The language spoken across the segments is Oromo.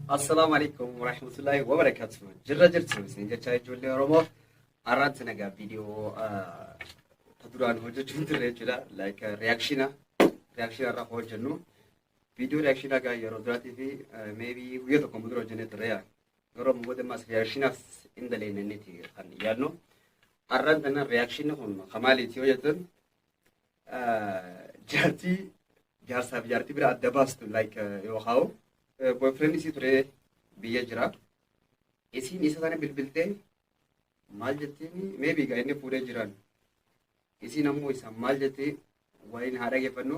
Assalaamu alaikum warahmatullahi wabarakatuh. Jirra jirtu isin jechaa ijoollee Oromoo har'aatti nagaa viidiyoo ta duraan hojjechuu hin turre jechuudha. Like reaakshina reaakshina irraa hojjennu. Viidiyoo reaakshina egaa yeroo duraatii fi maybe guyyaa tokko dura hojjennee turre yaa. Yeroo ammoo booda ammas reaakshinaaf hin daleenneeti kan yaadnu. Har'aan tana reaakshina kun kan maaliiti yoo jettan jaartii jaarsaa fi jaartii bira adda baastu like yoo haa'u boyfriend isii ture biyya jira isiin isa sana bilbiltee maal jettiin maybe egaa inni fuudhee jiraan isiin ammoo isa maal jettee waliin haa dhageeffannu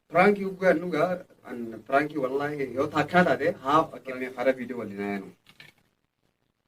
piraankii guggaan dhugaa piraankii wallaahi yoo taakkaa taate haa fakkeenyaaf hara viidiyoo waliin haa yaanu.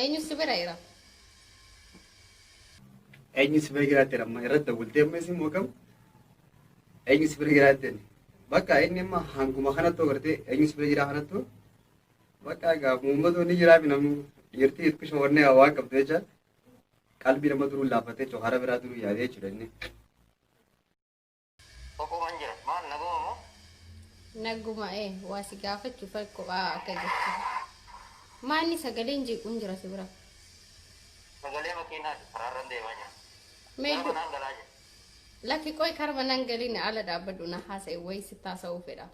Eenyu si bira jira? Eenyu si bira jiraatti amma irratti dawwaltee amma isin moogam? Eenyu si bira jiraatti inni? Bakka inni amma hanguma kanatti agartee eenyu si bira jiraa kanattu bakka egaa uummatu ni jiraa fi namni dhiirtii itti shawwannee waan qabdu jecha qalbii nama duruu laaffatee jechuudha hara biraa duruu yaadee jechuudha inni. Kophooman jira. Maal naguma moo? Naguma ee waa si gaafachu kan kophaa akka jirtu. Maanni sagaleen jeequun jira si bira. Sagalee makiinaati karaarran deemaa jira. Gara Meeddu manaan galaa jira. lakki qoy karma nan galina ala dhaabbadhu na haasa'e wayi si taasa'uu fedha.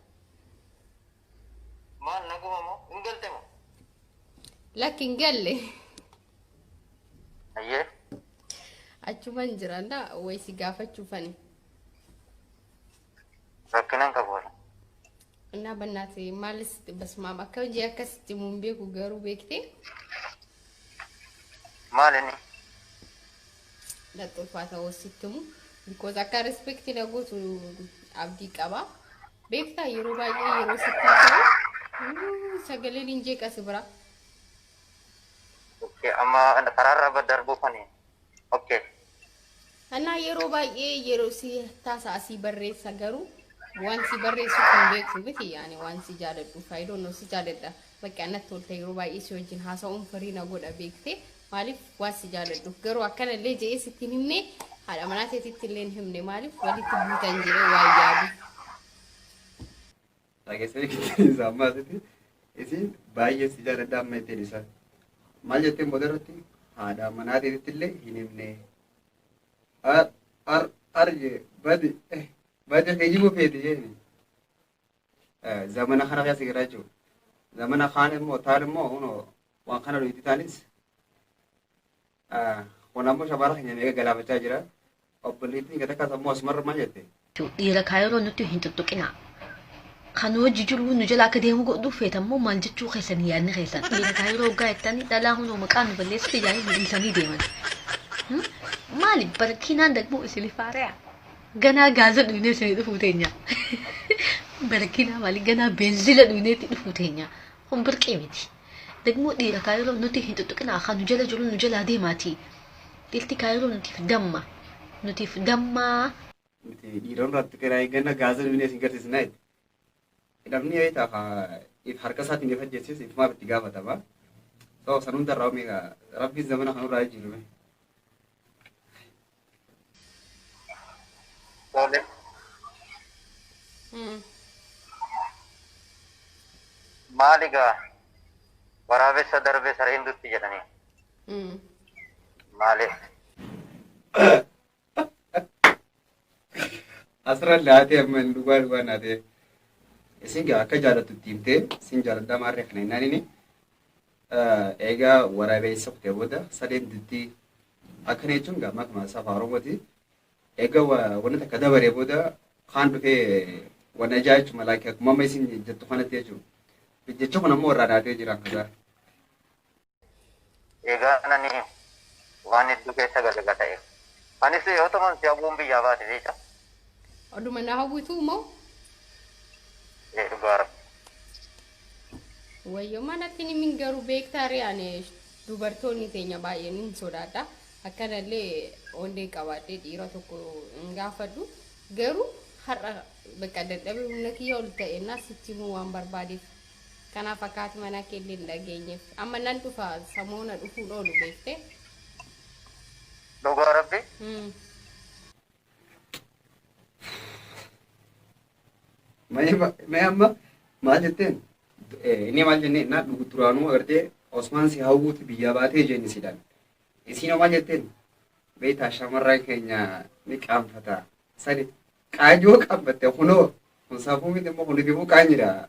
Maal naguma moo? Hin galte moo? Lakki hin galle. Ayyee. Achuman jiran da way si gaafachuufani. Rakkina hin qabu. Innaa bannaati maalis basmaam akka hojii akkasitti muun beeku garuu beektee Maal inni? laxxulfaa ta'uu sitti himu. Because akka rispekti na gootu abdii qaba. Beektaa yeroo baay'ee yeroo sitti haasa'u "Uuu, sagaleen hin jeeqasi bira. Okay, amma karaarra ba- darbuu kani. Okay. Anaa yeroo baay'ee yeroo si taasa'a si barreessa garuu waan si barreessu kan beektu miti yaani waan si jaaladhu faayidoo noo si jaaladha bakka annatti tolta yeroo baay'ee si wajjin haasa'uun firii na godha beekte maaliif waan si jaaladhu garuu akkana illee je'ee sitti hin himne haadha manaa teetitti illee hin himne maaliif walitti buutan jedhee waan yaadu. Dhagesee isaa ammaa asitti isiin baay'ee si jaaladha amma ittiin isa maal jetteen booda irratti haadha manaa teetitti illee hin himne ar ar ar jee badi eh badi kee jibu feeti jeeni zamana kana keessa jira jechuudha zamana kaan immoo taan immoo kunoo waan kana nuti taanis Kun ammoo shabaala keenya meeqa galaafachaa jira. Obboleettiin kee takkaas ammoo asumarra maal jette? Dhiira kaayiroo nutti hin tuttuqinaa. Kan nu wajji jiru nu jala akka deemu godhu feetan moo maal jechuu keessan yaadni keessan. Dhiira kaayiroo hoggaa jettanii dhalaa hunoo maqaa nu balleessite ijaanii nu dhiisanii deeman. Maali barakiinaan dagmoo isinif haare'a. Ganaa gaaza dhuynee isinii dhufuu teenya. Barakiinaa maali ganaa beenzila dhuyneetti dhufuu teenya. Kun birqii miti. Dagmoo dhiira kaayiroo nuti hin xuxuqinaa kaa nu jala jiru nu jalaa deemaati. Dhirti kaayiroo nutiif damma. Nutiif dammaa. Nuti dhiiroon raatti keraa eegganna gaaza duwinee isin garsiisnaa jette. Namni wayita ka if harka isaatiin if ajjeesses itumaaf itti gaafatama. So san hundarraa mee ka rabbiin zamana kanurraa jijjiiru mee. Tole. Mm. Maali gaa waraabessa darbee sareen dutti jedhanii Mm. maali? Asirra laatee amma hin dhugaa dhugaa naatee. Isin gaa akka jaalattu itti himtee isin jaaladhaa maarree kana hin naanini. Eegaa waraabessa kutee booda sadeen dittii akkana jechuun gaa makmaa isaa afaan Oromooti. Eegaa wanna takka dabaree booda kaan dhufee wanna ijaa jechuun malaakee akkuma amma isin jettu kanatti jechuudha. Jecha kun ammoo irraa naadhee jira kasaa. Eegaa nani waan hedduu keessa galaga ta'e. Anis yoo ta'an si abuun biyyaa baate jecha. Oduma na hawwituu moo? Ni dhugaa rabbi. Wayyo manatti ni min garuu beektaa ree ani dubartoonni teenya baay'een hin sodaadha. Akkanallee onnee qabaadhee dhiira tokko hin gaafadhu. Garuu har'a bakka dadhabee humna kiyya ol ta'e naa sitti himuu waan barbaadeef. Kanaaf akka haati manaa kee illee hin dhageenyeef. Amma nan dhufa samoona dhufuun oolu beektee. Dhugaa rabbi. Hmm. Mee amma maal jetteen? Inni maal jennee innaa duraanuu agartee Osmaan si hawwuuti biyyaa baatee jenni sidaan. Isiin maal jetteen? Beektaa shamarran keenya ni qaanfata. Sani qaanyoo qaanfatte kunoo kun safuu miti immoo kun itti immoo qaanyidha.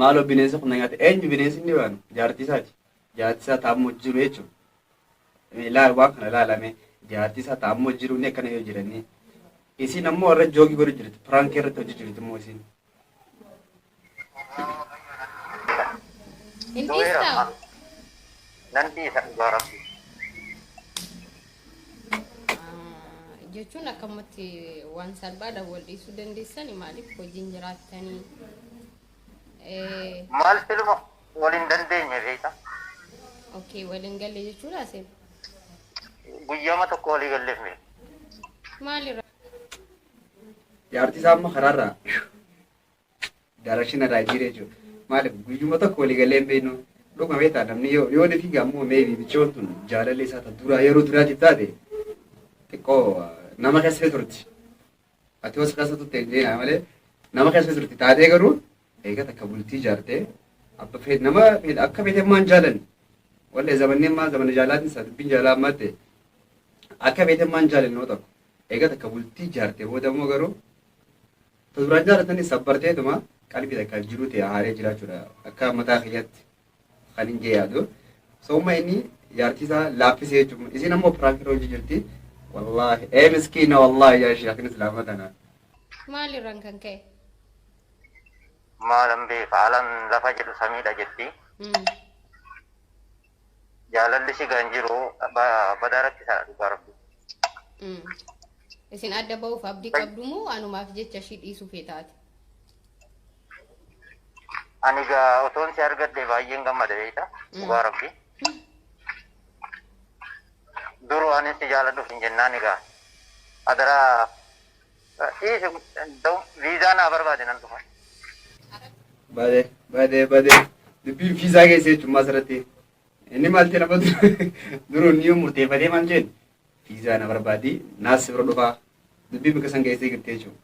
Maaloo bineensa kun na nyaate eenyu bineensi inni baanu jaartii isaati jaartii isaa taa'ammoo jiru jechuudha. Ilaal waan kana ilaalame jaartii isaa taa'ammoo jiru inni akkana yoo jiranii isiin ammoo irra joogii godhu jirti piraankii irratti hojii jirti immoo isiin. Hin Du'eera. dhiistaa? Nan dhiisa dhugaa rabbi. jechuun akkamatti waan salphaadhaan wal dhiisuu dandeessani maaliif hojiin jiraattanii maal filuma waliin dandeenye beekta okay waliin galle jechuudha seen guyyaama tokko walii galleef mire maalirra Jaartii isaa amma karaarraa Daarakshina irraa jijjiiree jechuudha. Maaliif guyyuma tokko walii galee hin beeknu dhuguma beektaa namni yoo yoo ni fiigaa immoo meebi michoon tun jaalalli isaa ta duraa yeroo duraatiif taate xiqqoo nama keessa turti. Ati hoos keessa turte hin jeenaa malee nama keessa turti taatee garuu eega takka bultii jaartee abba feet nama feet akka feetee maan jaalan wallee zamanneen maa zamana jaalaatiin isaa dubbiin jaalaa ammaa ta'e akka feetee maan jaalan nama tokko eega takka bultii jaartee booda immoo garuu Ta duraan jaalatani sabbarteetuma qalbii takka jiruu tee haaree jiraachuudha akka mataa kiyyatti kan hin jee yaadu so umma inni jaartii isaa laaffisee jechuudha isiin ammoo piraankiirra hojii jirti wallaahi ee miskiina wallaahi yaa sheekin islaama tana Maalirraan kan ka'e? maalan beeka alan lafa jedhu samiidha jetti Mm. Jaalalli si kan jiru ba- badaa rakkisaadha dhugaa rabbi. Mm. Isin adda ba'uuf abdii qabdu moo anumaaf jecha ishii dhiisuu feetaati? Ani gaa otoon si argadhe baay'een gammada beekta dhugaa rabbi. Duruu anis si jaaladhuuf hin jennaan egaa. Adaraa Dhiisi da'u viizaa naa barbaade nan dhufa. Bade bade bade dubbiin viizaa keessa jechuun maas irratti inni maal ta'e nama duruun ni murteeffatee maal jeen viizaa na barbaadi naas bira dhufaa dubbii bakka san keessee girtee jechuudha.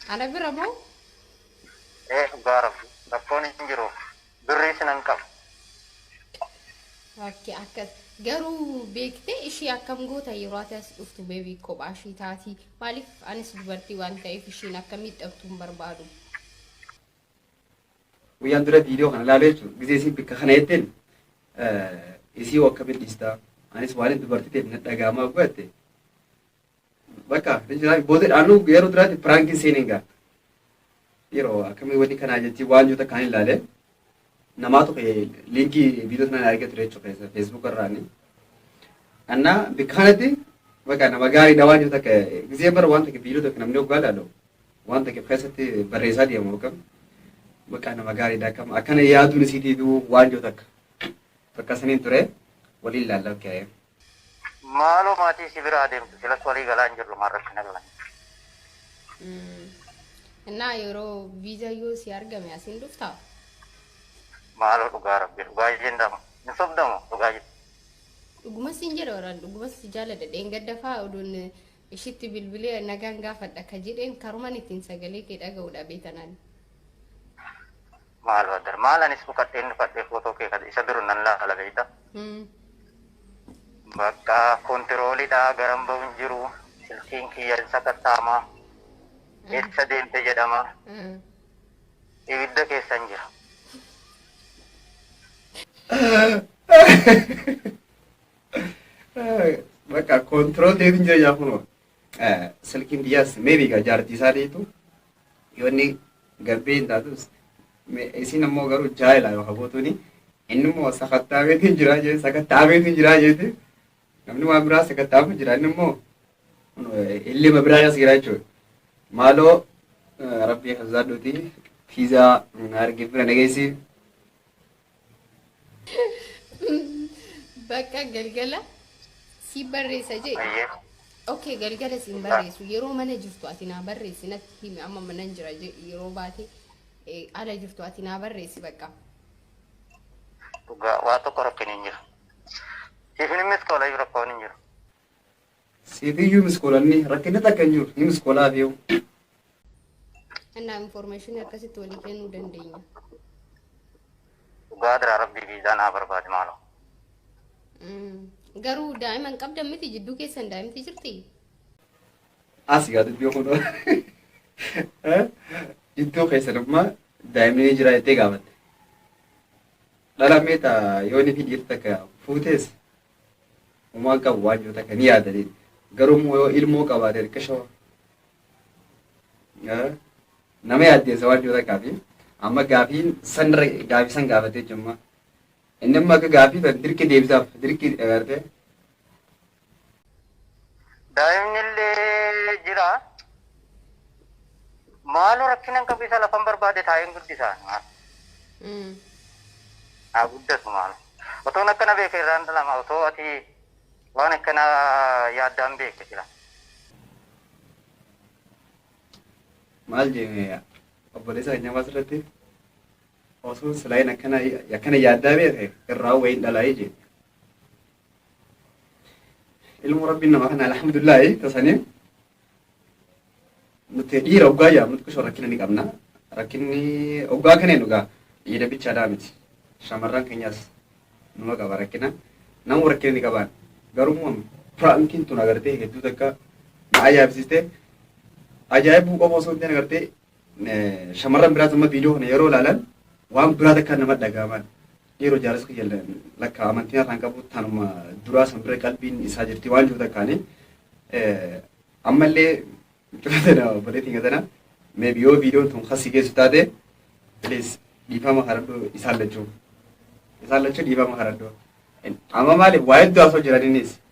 Ana bira moo? Ee dhugaa rabbi rakkoon hin jiru birrii sinan qaba. Akki akkas garuu beektee ishii akkam goota yeroo ati as dhuftu beebii kophaa ishii taati maaliif anis dubartii waan ta'eef ishiin akka miidhamtu hin barbaadu. Guyyaan dura viidiyoo kana ilaalee jechuudha. Gizee isiin bikka kana jetteen isii hoo akkamiin dhiistaa? Anis waan dubartii ta'eef na dhaga'amaa gubatte. Bakka booda dhaanuu yeroo duraatti piraankiin seeniin ga'a. Yeroo akkamii wanni kanaa jetti waan yoo takkaan ilaalee namaatu liinkii viidiyoo sanaan argee ture jechuudha feesbuuk irraani. Annaa bikka kanatti bakka nama gaariidha waan yoo takka gizee bara waan takka viidiyoo takka namni oggaa ilaalu waan takka keessatti barreessaa deemu akkam bakka nama gaariidha akkam akkana yaaduun isiitiif waan yoo takka bakka saniin ture waliin ilaalla ka'ee. Maaloo maatii si biraa deemtu silas walii galaa hin jirru maal rakkina qaban. Mm. Innaa yeroo viizaa yoo si argame asiin dhuftaa? Maaloo dhugaa rabbi dhugaa isheen dama. Hin sobdamu dhugaa jirti. Dhugumas siin jedha waraan dhugumas si jaaladha dheengadda fa'aa oduun ishitti bilbilee nagaan gaafadha ka jedheen karuman ittiin sagalee kee dhaga'u dhabe tanan. Maal baddar maal anis dhukadheen dhufadhee footoo kee kan isa duru nan laala beeyta. Hmm. Bakka kontiroolidha garan ba'u hin jiru silkiin kiyya hin sakattaama eessa deemte jedhama Ah. ibidda keessa hin jira. Bakka koontirool ta'etu hin jireenya kunoo. Silkiin biyyaas meebi egaa jaartii isaa ta'etu yoo inni gabbee hin taatus isin ammoo garuu jaayila yoo habootuuni inni immoo sakattaameetu hin jiraa jeeti sakattaameetu hin jiraa jeeti namni waan biraa sakattaamu jira inni immoo illee mabiraa as jira jechuudha. Maaloo rabbii hazaadhuuti fiizaa na argee bira nageessi Bakka galgala si barreessa jee. Ayyee. Ok galgala siin barreessu yeroo mana jirtu ati naa barreessi natti himi amma manan jira jedhi yeroo baate eh, ala jirtu ati naa barreessi bakka. Dhugaa waa tokko rakkin hin jiru. Siifin immis tola iyyuu rakkoon hin jiru. Siifiyyu miskoolanni rakkinni takka hin jiru ni miskoolaa fi yoo. Annaa information akkasitti walii kennuu dandeenya. Dhugaa dira rabbii viizaa naa barbaadi maaloo. Mm. Garuu daa'ima hin qabdan miti jidduu keessan daa'imti jirti. As gaa dubbii kun jidduu keessan amma daa'imni ni jira jettee gaafatte. Dhala mee ta yooni fi dhiir takka fuutees humaan qabu waan jiru takka ni yaadaniin. Garuu immoo yoo ilmoo qabaate rikkashoo nama yaaddeessa waan jiru takkaa fi amma gaafiin sanirra gaafii san gaafatee jimma. Inni amma akka gaafii tan dirqi deebisaaf dirqi agartee Daa'imnillee jira. Maaloo rakkina hin qabu isa lafan barbaade taa'een guddisa. Mm. Haa guddatu maal. Otoon akkana beeke irraan dhalama otoo ati waan akkana yaaddaan beekte jira. maal jee obboleessa keenya ammas irratti osoo silaayin akkana akkana yaaddaa beeke irraa wayiin dhalaa'ee jee ilmoo rabbiin nama kana alhamdulillahi tasaniif nuti dhiira oggaa yaa nuti kusoo rakkina ni qabna rakkinni oggaa kanee dhugaa dhiira bichaadhaa miti shamarran keenyas numa qaba rakkina nama rakkina ni qabaan garuu immoo piraankiin tun agartee hedduu takka na ajaa'ibsiiste ajaa'ibuu qofa osoo hin ta'in agartee Shamarran biraas amma viidiyoo kana yeroo ilaalan waan biraa takka nama dhaga'aman dhiiroo jaalas kiyya lakka amantiin harkaan qabu tanuma duraa san bira qalbiin isaa jirti waan jiru takkaani ammallee mucaa tana obboleettiin gatana meebi yoo viidiyoon tun kasii geessu taate please dhiifama kadhadhu isaan lachuu isaan lachuu dhiifama kadhadhu amma maaliif waa hedduu haasoo jiraniinis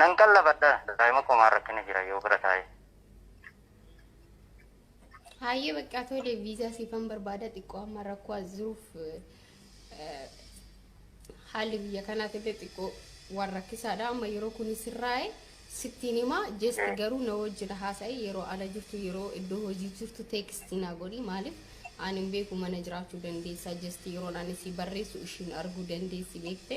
Nan qallabadha daa'ima koo maal rakkina jira yoo bira taa'e. Hayyee baqqaa tole viizaa siifan barbaada xiqqoo amma rakkoo as jiruuf eh, haalli biyya kanaaf illee xiqqoo waan rakkisaadha amma yeroo kun sirraa'e sittiin hima jeesti Eh. garuu na wajjin haasa'e yeroo ala jirtu yeroo iddoo hojii jirtu teekstii naa godhi maaliif ani hin beeku mana jiraachuu dandeessaa jeesti yeroon ani si barreessu ishiin arguu dandeessi beekte.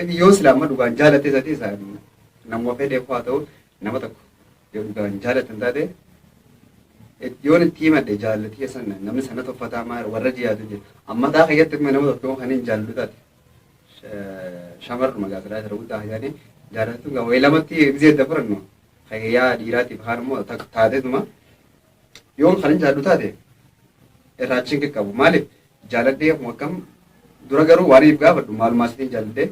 Inni yoo sila amma dhugaan jaalatee sati isa namuma fedhee kuwaa ta'u nama tokko yoo dhugaan jaalatan taate yoon itti himadhe jaallatii san namni sana toffataa maara warra jiyaatu jira amma taa keessatti kuma nama tokko kan hin jaallu taate shamarruma gaasiraa jira guddaa hajaani jaallattu gaa wayi lamatti gizee dabarannu hayyaa dhiiraatiif kaan immoo taatee tuma Yoon kanin jaaladhu taate irraa achiin qaqqabu. Maaliif jaaladhee akkuma akkam dura garuu waan if gaafadhu maalumaa sitiin jaaladhee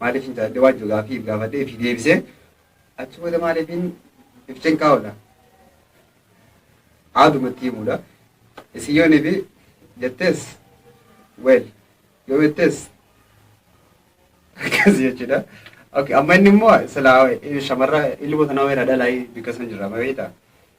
maaliif hin jaaladhee waan jiru gaafii if gaafadhee if deebisee achi booda maaliif hin if cinqaa oola. Aadumatti himuudha. Isin yoon ifi jettees weel yoo jettees akkas jechuudha. Okay, amma inni immoo silaa shamarra ilmoo sanaa weera dhalaa bikka san jirra beekta.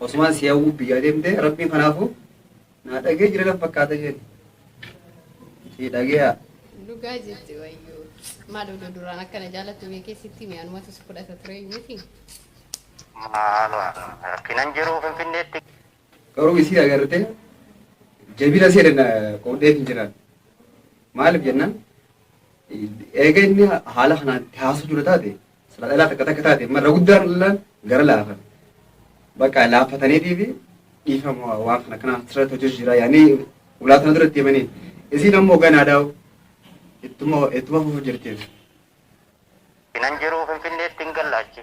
Osumaan si hawwuuf biyyaa deemtee rabbiin kanaafu naa dhagee jira nan fakkaata jeen si dhageeyaa. Dhugaa jette wayyoo. Maal odoo duraan akkana jaallattu beekee sitti mee anumatu si fudhata ture miti. Maaluma rakkinan jiru Finfinneetti. Garuu isii agartee jabina ishee danna qoodhee hin jiraan. Maaliif jennaan eega inni haala kanaan itti haasuu dura taate Sila dhalaa takka takka taate marra guddaan dhallaan gara laafan bakka laaffataniitii fi dhiifama waan kana kana asirratti hojjetu jira yaanii ulaa sana duratti himanii isiin ammoo ganaa daa'u ittuma ittuma fufu jirti. Nan jiruu Finfinneetti hin gallaachi.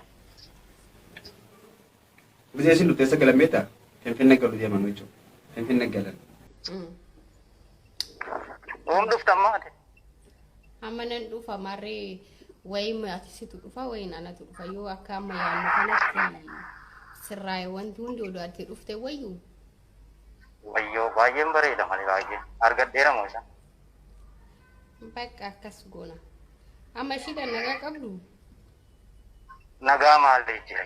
Buzee isin dhufte eessa galan beektaa? Finfinne galu deeman jechuudha. Finfinne galan. Oom dhufta ammaa ati. Amma nan dhufa marree wayiin ati situ dhufa wayiin anatu dhufa yoo akka amma yaadnu kanatti sirraa'e wanti hundi oduu ati dhufte wayyu Wayyoo baay'een bareeda malee baay'ee. Argadheera moo isa? bakka akkas goona. Amma ishiidhaan nagaa qabdu Nagaa maal jira?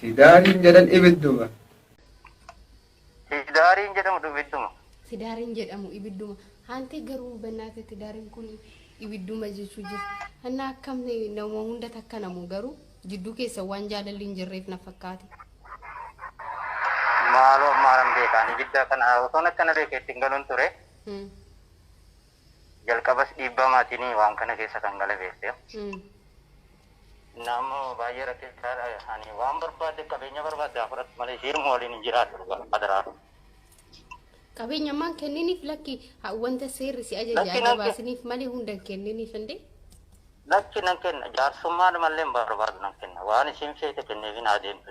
Sidaariin jedhan ibidduma. Sidaariin jedhamu ibidduma. Sidaariin jedhamu ibidduma. Haantee garuu bannaate tidaariin kun ibidduma jechuu jira. Hanna akkam nama hunda takka namu garuu jidduu keessa waan jaalalli hin jirreef na fakkaate. Maaloo maalan beekaan ibidda kana osoon akkana beeke ittiin galuun ture. Hmm. Jalqabas dhiibbaa maatiini waan kana keessa kan gale beekteef. Naammo baay'ee rakkisaadha. Ani waan barbaadde qabeenya barbaadde haa fudhattu malee siiruma waliin hin jiraadhu dhugaa adaraa. Qabeenya ammaan kenniniif lakki ha- wanta seerri si ajaja Lakki, lakki. ajabaasiniif malee hunda hin kenniniif indee. Lakki nan kenna jaarsummaadhumallee hin barbaadu nan kenna waan isiin feete kenneefiin haa deemtu.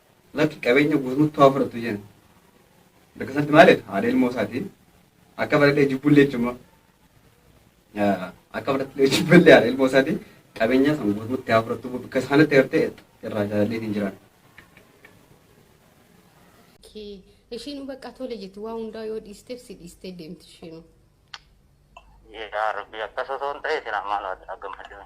Lakki qabeenya guutuutti haa fudhatu jenna. Bakka sanatti maal jedha? Haadha ilmoo isaatiin akka baradhee jibbullee jechuun akka baradhee jibbullee haadha ilmoo isaatiin qabeenya san guutuutti haa fudhatu bakka sanatti gartee irraa jaalallee hin jiraan. Ishiin bakka tole jetti waa hundaa yoo dhiisteef si dhiistee deemti ishiinuu. Yaa Rabbi akkas osoo hin ta'e isin ammaan haa gammadne.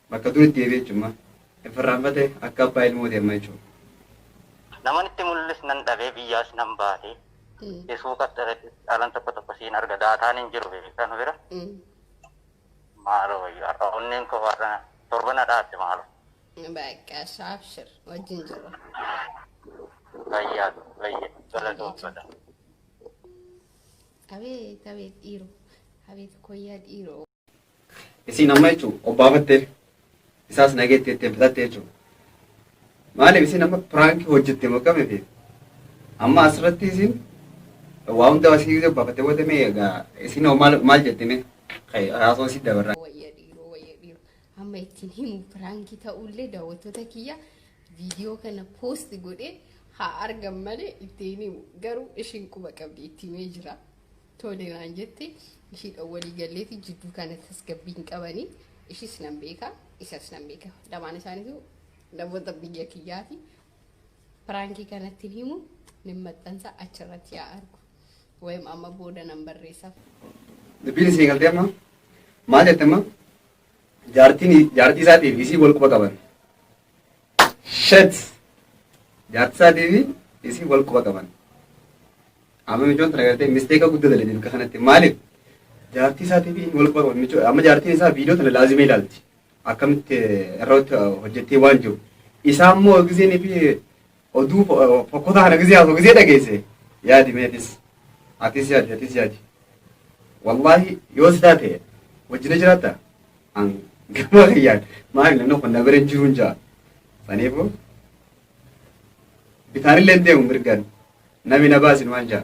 Bakka duritti deebi'e jechuun hin farraanfate akka abbaa ilmooti amma jechuudha. Naman itti mul'is nan dhabee biyyaas nan baate. Isuu qaxxaretti dhaalan tokko tokko siin arga daataan hin jiru beekaa nu bira. Maaloo wayyo har'a onneen koo har'a torba na dhaabde maaloo. Bakka shaabshir wajjin jirra. Fayyaa fayya galatoomfadha. Abeet abeet dhiiroo abeet koyyaa dhiiroo. Isiin amma jechuun obbaafattee isaas nageetti jettee bitatte jechuudha. Maaliif isin amma piraankii hojjette moo qabee fi amma asirratti isin waa hunda asii gisee obbaafattee booda mee egaa isin hoo maal maal jette mee haasoo si dabarraa. wayya dhiiroo wayya dhiiroo amma ittiin himu piraankii ta'ullee daawwattoota kiyya viidiyoo kana poost godhee haa argan malee ittiin himu garuu ishiin quba qabdi itti himee jira. Tole naan jette ishiidhaan walii galleeti jidduu kana tasgabbii hin qabani ishis nan beeka isas nan beeka lamaan isaaniitu namoota biyya kiyyaati piraankii kanatti hin himu nin maxxansa achirratti yaa argu wayim amma booda nan barreessaaf Dubbiin isii galtee amma maal jette amma jaartiin jaartii isaatiif isii wal quba qaban. Shet jaartii isaatiif isii wal quba qaban. Amma micoon tana gartee misteeka guddaa dalage bakka kanatti maaliif jaartii isaatiif inni wal qofa micoon amma jaartiin isaa viidiyoo tana laazima ilaalti akkamitti irratti hojjettee waan jiru isaa immoo giseen fi oduu fokkotaa kana gisee haasoo gisee dhageesse yaadi mee atis atis yaadi atis yaadi wallaahi yoo si taate wajjina jiraatta an gama kiyyaan maali namni kun na bira hin jiruun jaa saniifu bitaanillee hin deemu mirgaan Nami na baasi numaan jaa.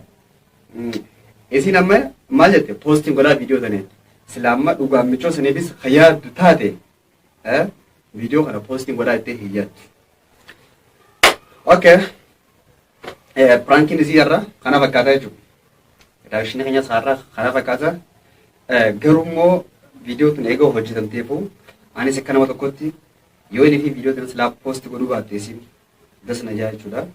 Isin amma maal jette poostiin godhaa viidiyoo sana jette. Sila amma dhugaan michoo saniifis kan yaaddu taate viidiyoo kana poostiin godhaa jettee hin yaaddu. Okay. Piraankiin isii irra kana fakkaata jechuudha. Daawishni keenya isaarra kana fakkaata. Garuu immoo viidiyoo tun eega hojjetamteefu anis akka nama tokkotti yoo inni fi viidiyoo tun silaa poosti godhuu baatte isin das na jaa jechuudha.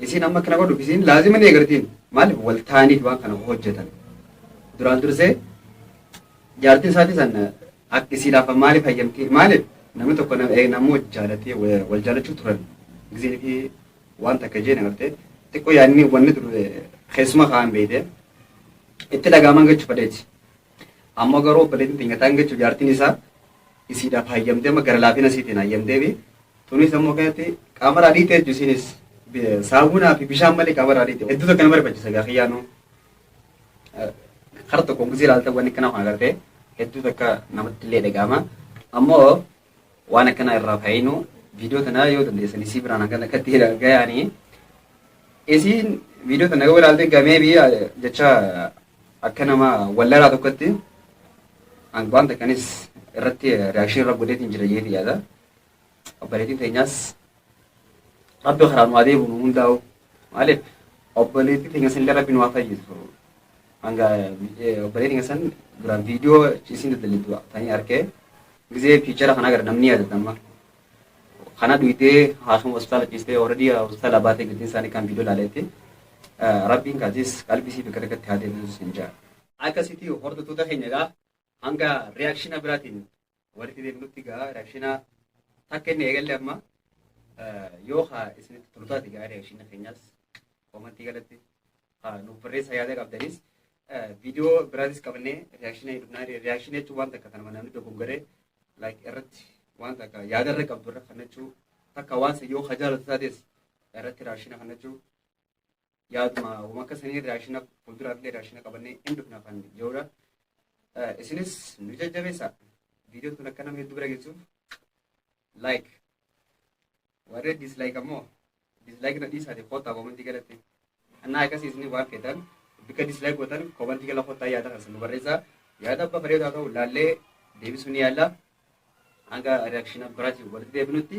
Isiin amma kana godhu isiin laazima ni eegartiin maaliif wal taaniif waan kana hojjetan. Duraan dursee jaartiin isaatii san akka isii laafa maaliif hayyamtii maaliif namni tokko namuu jaalatee wal jaalachuu turan gizeen fi waan takka jeen agartee xiqqoo yaadni wanni ture keessuma kaan beeyte itti dhagaaman gachuu fadheeti. Ammoo garuu obboleettiin teenya taan gechu jaartiin isaa isiidhaaf hayyamtee amma gara laafina isiitiin hayyamtee fi tunis ammoo kanatti qaama irraa dhiitee jechuun isiinis saamunaa fi bishaan malee qaama irraa dhiitee hedduu tokko nama rifachiisa gaa kiyyaanuu kara tokko guzii ilaalta wanni kana kan agartee hedduu takka namatti illee dhaga'ama ammoo Waan akkanaa irraa fayyinu viidiyoo tanaa yoo dandeessan isii biraan hanga lakkatti gayaanii isiin viidiyoo tana yoo ilaalte gamee biyya jecha akka nama wallaraa tokkotti an waan takkanis irratti reakshinii irra godheetiin jira jeeti yaada. Obboleettiin teenyaas rabbi karaa nu adeemu nu hundaa'u. Maaliif obboleettii teenya san illee rabbi nu haa fayyisu. Hanga obboleettii teenya san duraan viidiyoo isiin daldalittu tanii arkee gizee fiichara kan agarre namni yaadata amma. Kana dhuydee haakima hospitaala ciistee ooradii hospitaala baatee giddiin isaanii kan viidiyoo ilaaleetti rabbiin kaatis qalbii isii bakka takkatti haa deebisu siin jaa. Akkasitii hordoftoota keenya egaa Hanga reaction biraatiin walitti deebinutti gaa reaction takka inni eegalle amma yoo haa isinitti tolu taate gaa reaction keenyaas komantii galatti haa nuuf barreessaa yaada qabdanis viidiyoo biraatis qabannee reaction dhufnaa reaction jechuun waan takka kanuma namni dogongaree like irratti waan takka yaada irra qabdu irra kannachuu takka waan san yoo ka jaalatu taates irratti reaction kannachuu yaaduma wama akka sanii raashina fuulduraa illee raashina qabannee hin dhufna kan jirudha. Isinis nu jajjabeessa. Viidiyoon kun akka nama hedduu bira geessuuf like. Warri dislike ammoo dislike na dhiisaati kottaa komantii galatti. Annaa akkasii isin waan feetan bakka dislike gootan komantii gala kottaa yaada kan isin nu barreessaa. Yaada abba bareedu haa ta'u laallee deebisuu ni yaalla. Hanga reaction biraatiin walitti deebinutti